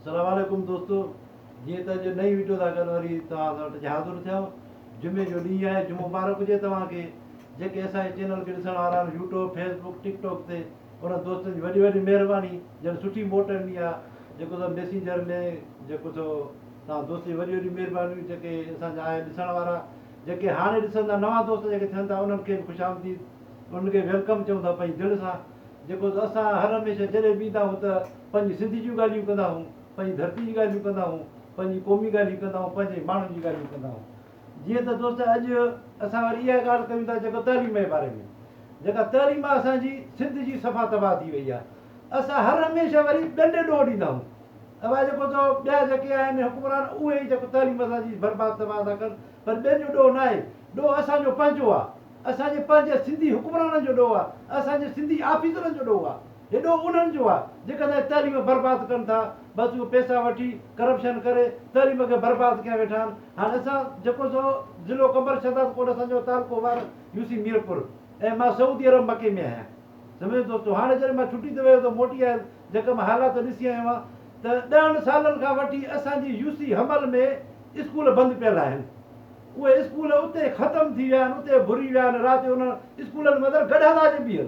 سلام عليڪم دوستو جيئن ته اڄ نئين ويڊيو سان گڏ وري توهان سان وٽ حاضر ٿيم جمعي جو ڏينهن آهي جمعو مبارڪ هجي توهان کي جيڪي اسان جي چينل کي ڏسڻ وارا آهن YouTube Facebook TikTok تي انهن دوستن جي وڏي وڏي مهرباني جن سٺي موٽ ڏني آهي جيڪو سو ميسينجر ۾ جيڪو سو توهان دوستن جي وڏي وڏي مهربانيون جيڪي اسان جا آهن ڏسڻ وارا جيڪي هاڻي ڏسن ٿا نوان دوست جيڪي ٿين ٿا انهن کي به خوش آمديد انهن کي ويلڪم چئون ٿا پنهنجي دل سان جيڪو سو اسان هر هميشه جڏهن به ايندا آهيون ته پنهنجي سنڌ جون ڳالهيون ڪندا هئون، پنهنجي ڌرتي جي ڳالهيون ڪندا هئون، پنهنجي قومي ڳالهيون ڪندا هئون، پنهنجي ماڻهن جي ڳالهيون ڪندا هئون. جيئن ته دوست اڄ اسان وري اها ڳالهه ڪيون ٿا جيڪو تعليم جي باري ۾ جيڪا تعليم آهي اسان جي سنڌ جي صفا تباهه ٿي وئي آهي. اسان هر هميشه وري ٻين ڏي ڏوهه ڏيندا هئون. اها جيڪو تو ٻيا جيڪي آهن حڪمران اهي ئي جيڪو تعليم اسان جي برباد تباهه ٿا ڪن پر ٻين جو ڏوهه ناهي. ڏوهه اسان جو پنهنجو آهي. اسان جي پنهنجي سنڌي حڪمرانن جو ڏوهه آهي. اسان جي سنڌي آفيسرن جو ڏوهه آهي. هيڏو انهن جو آهي جيڪي اسان جي تعليم برباد ڪن ٿا بس اهي پيسا وٺي ڪرپشن ڪري تعليم کي برباد ڪيا ويٺا آهن هاڻي اسان جيڪو سو ضلعو قمبر شهداد ڪوٽ اسان جو تعلقو وار يو سي ميرپور ۽ مان سعودي عرب مڪي ۾ آهيان سمجهيو دوستو هاڻي جڏهن مان ڇٽي تي ويو ته موٽي آيس جيڪا مان حالات ڏسي آيو آهيان ته ڏهن سالن کان وٺي اسان جي يو سي حمل ۾ اسڪول بند پيل آهن اهي اسڪول اتي ختم ٿي ويا آهن اتي ڀري ويا آهن رات جو انهن اسڪولن ۾ اندر گڏهه ٿا اچي بيهل.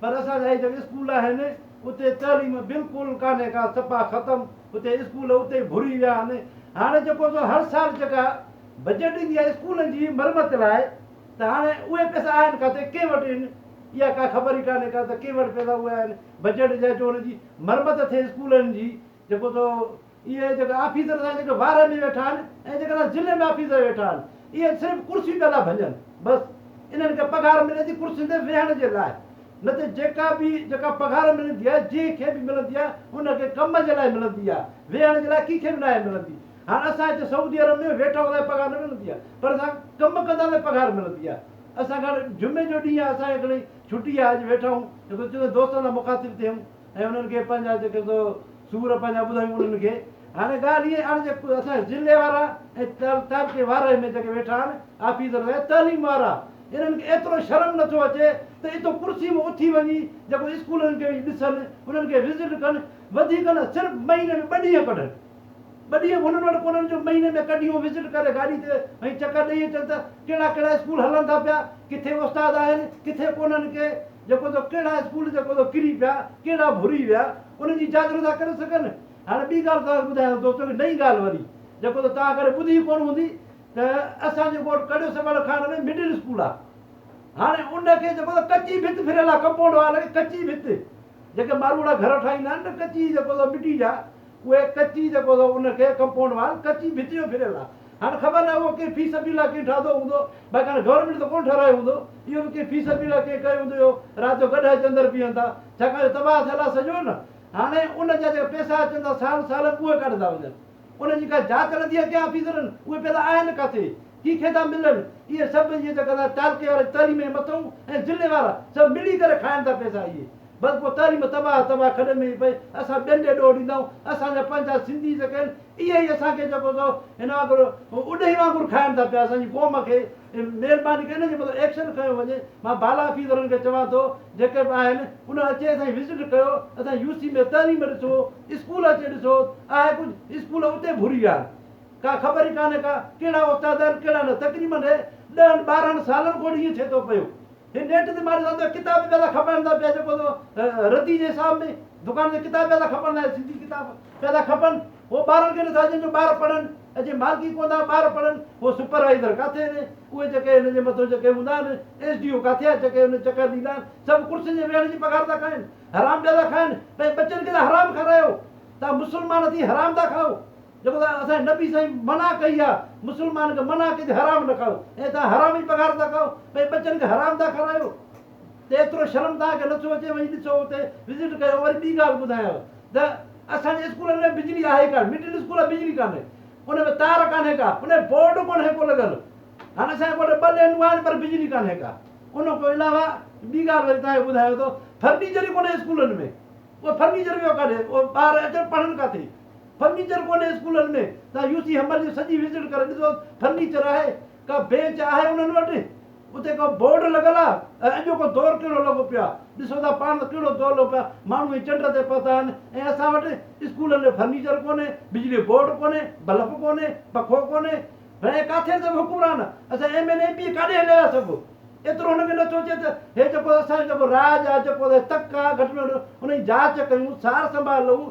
پر اسان جا هي جيڪي اسڪول آهن اتي تعليم بلڪل ڪانهي ڪا سپا ختم اتي اسڪول اتي ئي ڀري ويا آهن هاڻي جيڪو سو هر سال جيڪا بجيٽ ايندي آهي اسڪولن جي مرمت لاء ته هاڻي اهي پئسا آهن ڪاٿي ڪنهن وٽ ان اها ڪا خبر ئي ڪانهي ڪا ته ڪنهن وٽ پئسا اهي آهن بجيٽ جا جو ان جي مرمت ٿئي اسڪولن جي جيڪو سو اهي جيڪي آفيسر سان جيڪي وارهه ۾ ويٺا آهن ۽ جيڪي سا ضلعي ۾ آفيسر ويٺا آهن اهي صرف ڪرسي پيا لا ڀڃن بس انهن کي پگهار ملي ٿي ڪرسين تي ويهڻ جي لاء نه ته جيڪا به جيڪا پگهار ملندي آهي جنهن کي به ملندي آهي ان کي ڪم جي لاء ملندي آهي ويهڻ جي لاء ڪنهن کي به ناهي ملندي هاڻ اسان هتي سعودي عرب ۾ ويٺا هوندا آهيون پگهار نه ملندي آهي پر اسان ڪم ڪندا ته پگهار ملندي آهي اسان کي هاڻي جمعي جو ڏينهن آهي اسان کي گهڻي ڇٽي آهي اڄ ويٺا آهيون جيڪو چئون ٿا دوستن سان مخاطب ٿيون ۽ انهن کي پنهنجا جيڪي سو سور پنهنجا ٻڌايون انهن کي هاڻي ڳالهه ائين آڻ جي اسان ضلعي وارا ۽ تعلقي وارهه ۾ جيڪي ويٺا آهن آفيسر ۽ تعليم وارا انهن کي ايترو شرم نه ٿو اچي ته اتو ڪرسي مان اٿي وڃي جيڪو اسڪولن کي وڃي ڏسن انهن کي وزٽ ڪن وڌيڪ نه صرف مهيني ۾ ٻه ڏينهن ڪڍن ٻه ڏينهن به هنن وٽ ڪونهن جو مهيني ۾ ڪه ڏينهن وزٽ ڪري گاڏي تي ۽ چڪر ڏئي اچن ته ڪهڙا ڪهڙا اسڪول هلن ٿا پيا ڪٿي استاد آهن ڪٿي ڪونهن ڪي جيڪو ته ڪهڙا اسڪول جيڪو ته ڪري پيا، ڪهڙا ڀري ويا، ان جي جاچ نٿا ڪري سگهن. هاڻي ٻي ڳالهه توهان کي ٻڌايان ٿو دوستو هڪ نئين ڳالهه وري جيڪو ته توهان ڪڏهن ٻڌي ڪونه هوندي ته اسان جي ڳوٺ ڪڙيو سمهڻ کاڻ ۾ مڊل اسڪول آ هاڻي ان کي جيڪو ته ڪچي ڀت ڦريل آ ڪمپائونڊ وال کي ڪچي ڀت جيڪي ماروئڙا گهر ٺاهيندا آهن نه ڪچي جيڪو ته مٽي جا اهي ڪچي جيڪو ته ان کي ڪمپائونڊ وال ڪچي ڀت جو ڦريل آ. هاڻ خبر ناهي اهو ڪنهن في سبيل لاء ڪنهن ٺاهدو هوندو، باقي هاڻ گورنمينٽ ته ڪونه ٺهرايو هوندو، اهو به ڪنهن في سبيل لاء ڪنهن ڪيو هوندو جو رات جو گڏهه اچي اندر بيهن ٿا، ڇاڪاڻ جو تباهه ٿيل آهي سڄو نه، هاڻي ان جا جيڪا پئسا اچن ٿا سال سال ۾ اهي ڪاڏ ٿا وڃن، ان جي ڪا جاچ هلندي آهي ڪنهن آفيسرن، اهي پئسا آهن ڪاٿي، ڪي کي ٿا ملن، اهي سڀ اهي جيڪا تعلقي وارا تعليم جي مٿئون ۽ ضلعي وارا سڀ ملي ڪري کائن ٿا پئسا اهي. بس پوء تعليم تباهه تباهه کڏ ۾ ئي پئي، اسان ٻين ڏي ڏوهه ڏيندا آهيون، اسان جا پنهنجا سنڌي جيڪي آهن اهي ئي اسان کي جيڪو سو هن وانگر اڏهي وانگر کائن ٿا پيا، اسان جي قوم کي مهرباني ڪري ان جي متعلق ايڪشن کنيو وڃي، مان بالا افيسرن کي چوان ٿو جيڪي به آهن انهن اچي اسان جي وزٽ ڪيو، اسان جي يو سي ۾ تعليم ڏسو، اسڪول اچي ڏسو، آهي ڪجهه، اسڪول اتي ڀري آهن، ڪا خبر ئي ڪانهي ڪا ڪهڙا استاد آهن ڪهڙا نه، تقريبن ڏهن ٻارهن سالن کان وٺي ائين ٿئي ٿو پيو. هي نيٽ تي ماري ٿا ڪتاب به پيادا کپائڻ ٿا پيا جيڪو ردي جي حساب ۾ دڪان تي ڪتاب پيادا کپن لاء سنڌي ڪتاب پيادا کپن هو ٻارن کي نٿا ڏين جو ٻار پڙهن ۽ جي مالڪي ڪون ٿا ٻار پڙهن هو سپروائيزر ڪاٿي آهن اهي جيڪي هن جي مٿو جيڪي هوندا آهن ايس ڊي او ڪاٿي آهي جيڪي هن چڪر ڏيندا آهن سڀ ڪرسين جي ويهڻ جي پگهار ٿا کائن حرام پيادا کائن پنهنجي ٻچن کي ته حرام کارايو تان مسلمان ٿي حرام ٿا کائو جيڪو ته اسان جي نبي سائين منع ڪئي آ مسلمان کي منع ڪئي تي حرام نه کائو ۽ توهان حرام جي پگهار ٿا کائو پنهنجي ٻچن کي حرام ٿا کارايو ته ايترو شرم توهان کي نٿو اچي وڃي ڏسو اتي وزٽ ڪيو وري ٻي ڳالهه ٻڌايانو ته اسان جي اسڪولن ۾ بجلي آهي ڪانه مڊل اسڪول آ بجلي ڪانه ان ۾ تار ڪانه ڪا ان ۾ بورڊ ڪونه ڪو لڳل هاڻ اسان جي ڳوٺ ٻه لينون آهن پر بجلي ڪانه ڪا ان کان علاوه ٻي ڳالهه وري توهان کي ٻڌايان ٿو فرنيچر ئي ڪونه اسڪولن ۾ اهو فرنيچر ويو ڪاڏي اهو ٻار اچن پڙهن ڪاٿي فرنيچر ڪونهي اسڪولن ۾ تان يو سي همر جي سڄي وزٽ ڪري ڏسو فرنيچر آهي ڪا بينچ آهي انهن وٽ اتي ڪو بورڊ لڳل آ ۽ اڄوڪو دور ڪهڙو لڳو پيو آ ڏسو ٿا پاڻ ته ڪهڙو دور لڳو پيو آ ماڻهو هي چنڊ تي پهتا آهن ۽ اسان وٽ اسڪولن ۾ فرنيچر ڪونهي بجلي بورڊ ڪونهي بلف ڪونهي پکو ڪونهي ڀيڻائي ڪاٿي سڀ حڪمران اسان ايم اين ايم پي ڪاڏي هليا ويا سڀ ايترو هن کي نه سوچي ته هي جيڪو اسان جو جيڪو راڄ آ جيڪو تڪ آ گهٽ ۾ گهٽ انهي جي جاچ ڪيون سار سنڀال لئون